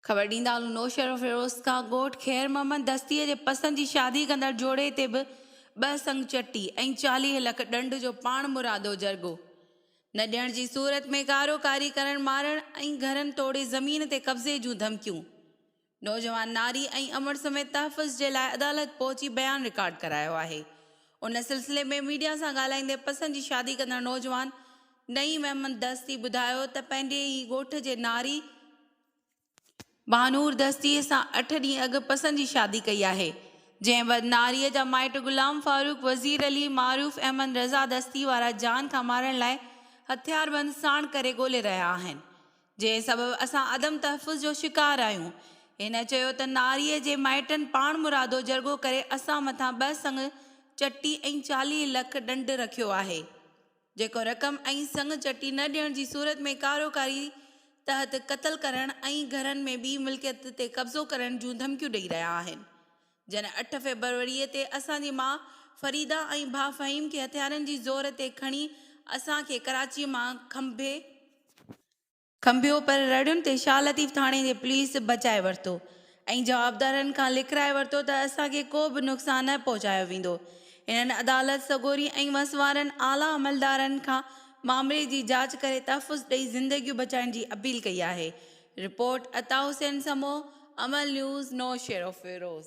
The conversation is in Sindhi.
خبر ڏيندا هلون نوشهروفيروز کان ڳوٺ خير محمد دستيء جي پسند جي شادي ڪندڙ جوڙي تي به ٻه سڱ چٽي ۽ چاليهه لک ڏنڊ جو پاڻمرادو جرڳو نه ڏيڻ جي صورت ۾ ڪارو ڪاري ڪرڻ مارڻ ۽ گهرن ٽوڙي زمين تي قبضي جون ڌمڪيون نوجوان ناري ۽ امڙ سميت تحفظ جي لاء عدالت پهچي بيان رڪارڊ ڪرايو آهي. ان سلسلي ۾ ميڊيا سان ڳالهائيندي پسند جي شادي ڪندڙ نوجوان نعيم احمد دستي ٻڌايو ته پنهنجي ئي ڳوٺ جي ناري مهانور دستي سان اٺ ڏينهن اڳ پسند جي شادي ڪئي آهي جنهن بعد ناري جا مائٽ غلام فاروق وزير علي معروف احمد رضا دستي وارا جان کان مارڻ لاء هٿياربند ساڻ ڪري ڳولي رهيا آهن جنهن سبب اسان عدم تحفظ جو شڪار آهيون. هن چيو ته ناريء جي مائٽن پاڻمرادو جرڳو ڪري اسان مٿان ٻه سڱ چٽي ۽ چاليهه لک ڏنڊ رکيو آهي، جيڪو رقم ۽ سڱ چٽي نه ڏيڻ جي صورت ۾ ڪاروڪاري تحت قتل ڪرڻ ۽ گهرن ۾ ٻي ملڪيت تي قبضو ڪرڻ جون ڌمڪيون ڏئي رهيا آهن، جنھن اٺ فيبروريء تي اسان جي ماء فريده ۽ ڀاء فھيم کي ھٿيارن جي زور تي کڻي اسان کي ڪراچيء مان کنڀي کنڀيو پر رڙيون تي شاھ لطيف ٿاڻي جي پوليس بچائي ورتو ۽ جوابدارن کان لکرائي ورتو ته اسان کي ڪو به نقصان نه پهچايو ويندو ھنن عدالت سڳوري ۽ وسوارن اعليٰ عملدارن کان معاملي جي جاچ ڪري تحفظ ڏئي زندگيون بچائڻ جي اپيل ڪئي آھي رپورٽ، عطا حسين سمون، امل نيوز، نوشهروفيروز.